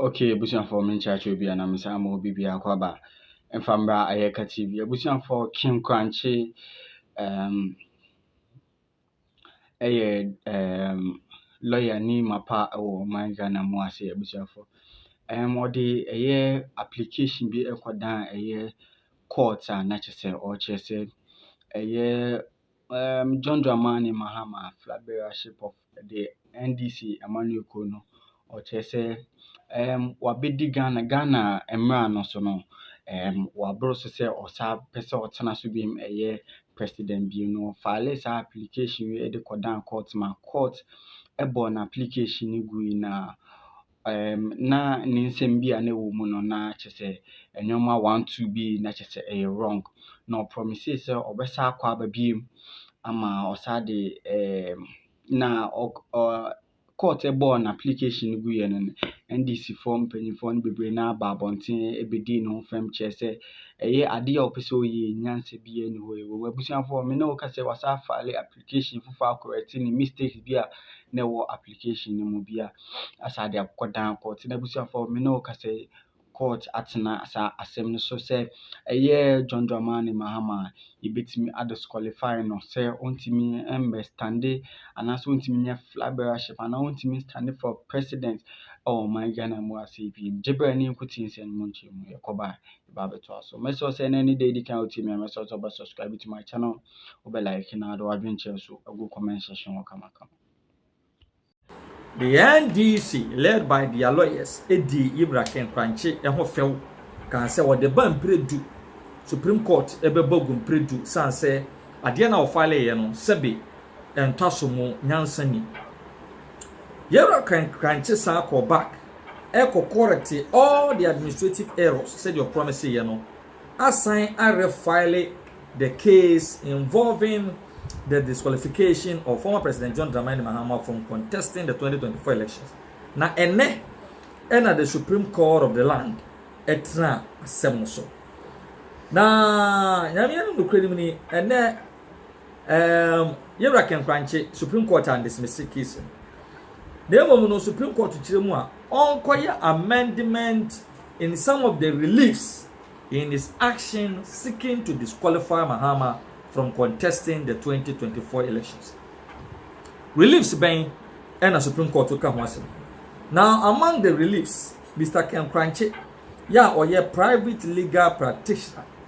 Okay abusuafoɔ menkyerɛkyerɛ obi anaa mensan ma obi biako aba mfa mmra Ayɛka TV abusuafoɔ King Krankye um, ɛyɛ um, lawyer ni mapa wɔ ɔman Ghana mu ase abusuafoɔ um, ɔde ɛyɛ application bi ɛkɔdan ɛyɛ court a na kyerɛ sɛ ɔkyerɛ sɛ ɛyɛ Erm John Dramani Mahama Flabbership of the NDC Amanyɔkuo kuo no, ɔkyerɛ sɛ erm wabɛdi Ghana Ghana mmra no so no, erm waboro so sɛ ɔsa pɛ sɛ ɔtena so biem ɛyɛ president biem no, ɔfaale saa application wei de kɔdaa court ma court ɛbɔɔ n'application no gui na na ne nsɛm bi a na ɛwɔ mu no na kyerɛ sɛ nneɛma one two bi na kyerɛ sɛ ɛyɛ wrong. Na ɔpromisee sɛ ɔbɛsan akɔ aba biom ama ɔsan de ɛɛm na ɔ ɔ court bɔɔ no application no guiɛ no, NDC foɔ mpanyinfoɔ no bebree no ara baa abɔnten bɛdii ne ho fɛm kyerɛ sɛ ɛyɛ adeɛ a ɔpɛ sɛ ɔyɛ yi nyansa biara nni hɔ. Wɔ abusuafoɔ hɔ me ne wo ka sɛ wasan afile application. application foforɔ akɔrɛkte ne mistakes bi a na ɛwɔ application no mu bi a asɛ ade akokɔ dan kɔɔte na abusuafoɔ me ne wo kasa yi court atena saa asɛm no so sɛ ɛyɛ John Dramani Mahama a yɛbɛtumi adisqualify no sɛ ɔntumi mmɛstande anaasɛ ɔntumi nyɛ flag bearership anaa ɔntumi stande for president ɛwɔ ɔman Ghana mu ase bi gye berɛ ne nkuti nsɛm mu nkyɛn mu yɛkɔba ba bɛtoa so mɛsɛ sɛ na ne da edi kan wotie me a mɛsɛ sɛ wobɛ subscribe to my channel wobɛ like na de wadwenkyerɛ so agu comment section hɔ kamakama The NDC, led by their lawyers, di Yibra Kenkranche ho fɛw kan sɛ wɔde ba mpire du Supreme Court bɛbɔ gu mpire du san sɛ adeɛ na wɔfaleeɛ no sɛbe ɛntɔ aso mu nyansa ni. Yɛwura krankye san kɔɔ back ɛkɔ kɔrɛkte all the administrative errors sɛdeɛ ɔprɔmiseeɛ no asan arefile the case involving the disqualification of former President John Dramani Mahama from contesting the twenty twenty four elections na ɛnnɛ ɛna the Supreme Court of the land ɛtena asɛm no so na Nyame anim nokorɛ nim ni ɛnnɛ Erm Yewura Kɛnkrankye, Supreme Court andismisse case no, na mmom no Supreme Court kyerɛ mu a ɔnkɔyɛ amendment in some of the reliefs in his action seeking to disqualify Mahama from contesting the twenty twenty four elections. Reliefs bɛn ɛna Supreme Court ka ho asɛm? Now among the reliefs, Mister Kɛnkrankye yɛ a ɔyɛ private legal practitioner,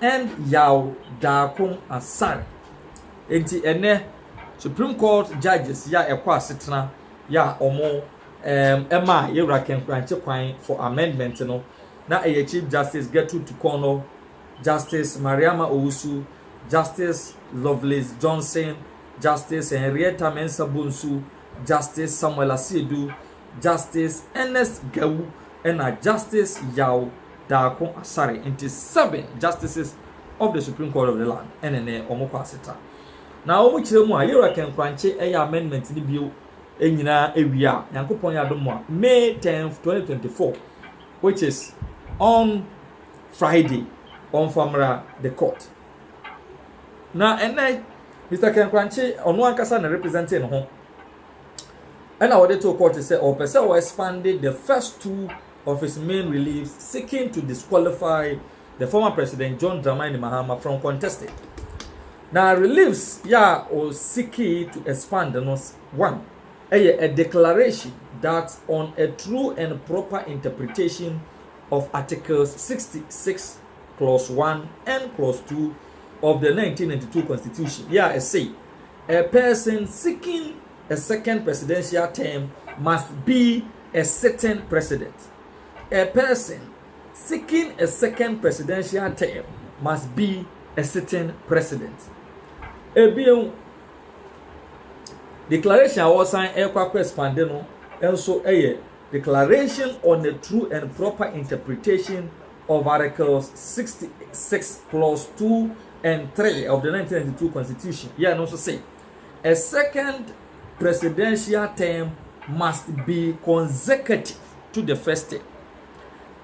Hɛn yaw daa ko asan. Ntsi ndɛ Supreme Court Judges yi a ɛkɔ asetsena yi a wɔn maa Yewura Kɛnkorankye kwan for amendment no, na ɛyɛ Chief Justice Gertrude Tukɔnɔ, Justice Mariama Owusu, Justice Lovelace Johnson, Justice Henrietta Mensah Bonsu, Justice Samuel Asiedu, Justice Ernest Gawu na Justice Yaw Darko Asare, nti seven Justices of the Supreme Court of the land ne ne wɔn kɔ aseta. Na wɔn kyerɛ mu a, Yera Kenkorankye yɛ amendment no bio nyinaa awie a, Nyankopɔn yɛ adom a, May tenth, twenty twenty four, which is on Friday, wɔmfa mmra the court. Na ɛnɛ, Mister Kenkorankye, ɔno ankasa na represente ne ho. ɛna wɔde too court sɛ ɔpɛ sɛ ɔ expande the first two of his main reliefs seeking to disqualify the former president John Dramani Mahama from contesting. Na reliefs yɛ a ɔ seeki to expand no one ɛyɛ a declaration that on a true and proper interpretation of articles 66 clause one and clause two of the 1992 constitution yɛ a ɛse a person seeking a second presidential term must be a sitting president. A person seeking a second presidential term must be a sitting president. Ebien, declaration a wɔsan ɛkɔ akɔ expande no nso yɛ declaration on a true and proper interpretation of Articles 66 clause 2 and 3 of the 1992 Constitution yɛ no nso se, A second presidential term must be consecutive to the first term.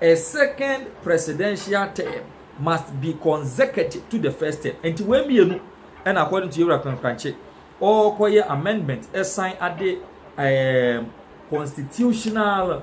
A second presidential term must be consecutive to the first term. Nti wei mmienu ɛna according to Yewura Kwankwankye ɔrekɔyɛ amendment ɛsan ade um, constitutional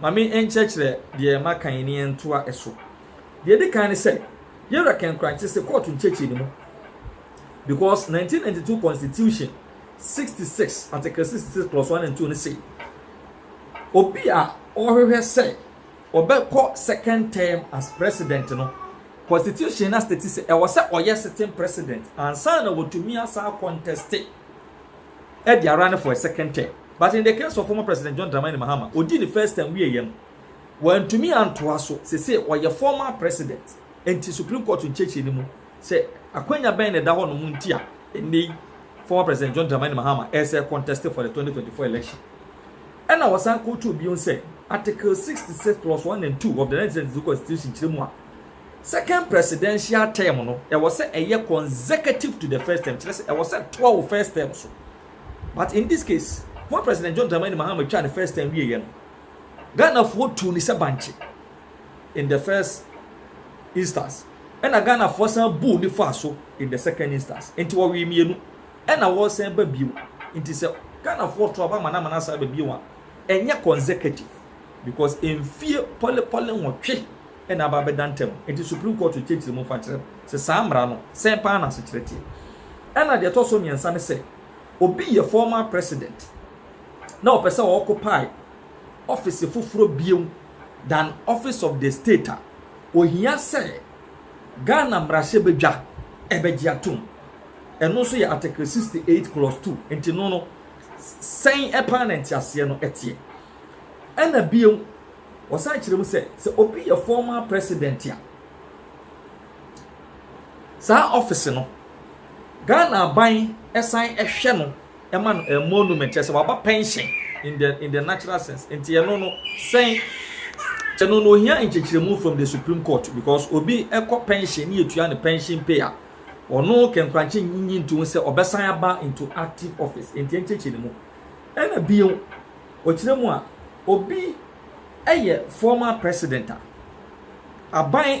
Ma me nkyerɛkyerɛ deɛ maka yi ne yɛntoa ɛso. Deɛ ɛdi kan ne sɛ, yɛwura kɛnkrankye se kɔɔto nkyɛkyerɛ no mu because nineteen ninety two constitution sixty six article sixty six clause one and two no se obi a ɔhwehwɛ sɛ ɔbɛkɔ second term as president no constitution no astate sɛ ɛwɔ sɛ ɔyɛ sitting president ansa na watumi asan akɔntɛste Edi ara ne for a second term but in the case of former president John Dramani Mahama odi ne first term wieɛ no wantumi antoa so sese ɔyɛ former president nti supreme court nkyekyere no mu sɛ akwanya bɛn na ɛda hɔ nom nti a ennei former president John Dramani Mahama ɛsɛ contest for the 2024 election ɛna wɔsan kotuo bion sɛ article 66 plus 1 and 2 of the 1992 constitution kyerɛ mu a Second presidential term no ɛwɔ sɛ ɛyɛ consecutive to the first term, kyerɛ sɛ ɛwɔ sɛ ɛtoa wo first term so. But in this case, former President John Dramani Mahama twaa ne first term wieeɛ no, Ghanafoɔ tuu ne sɛ bankye in the first instance, ɛna Ghanafoɔ san buu ne faa so in the second instance. Nti wɔwee mmienu, ɛna wɔresan ba bio. Nti sɛ Ghanafoɔ to aba amana amana asan aba bio a, ɛnyɛ consecutive because mfie pɔlepɔle nwɔtwe na aba abɛda ntam. Enti Supreme Court rekyerɛkyerɛ mu fa kyerɛ sɛ saa mmara no, sɛn paa n'asekyerɛ teɛ. Ɛnna deɛ ɛtɔ so mmiɛnsa ne sɛ, obi yɛ former president na ɔpɛ sɛ ɔɔkopae ɔfese foforɔ bio than office of the state a, ohia sɛ Ghana mmarahyɛbadwa bɛgye atom. Ɛno nso yɛ Article sixty eight clause two. Enti no no, sɛn paa na nteaseɛ no teɛ. Ɛnna bio, Wɔsan kyerɛ mu sɛ, sɛ obi yɛ former president a, saa office no, Ghana aban san hwɛ no ma no emolument, kyerɛ sɛ waba pension in the in the natural sense. Nti ɛno no sɛn? Ɛno no ohia nkyekyeremu from the Supreme Court because obi kɔ pension ne yɛtua ne pension pay a, ɔno kɛnkorankye nyi nto ho sɛ ɔbɛsan aba into active office. Nti nkyekyeremu. Ɛna bio, Ɔkyerɛ mu a, obi yɛ former president a, aban.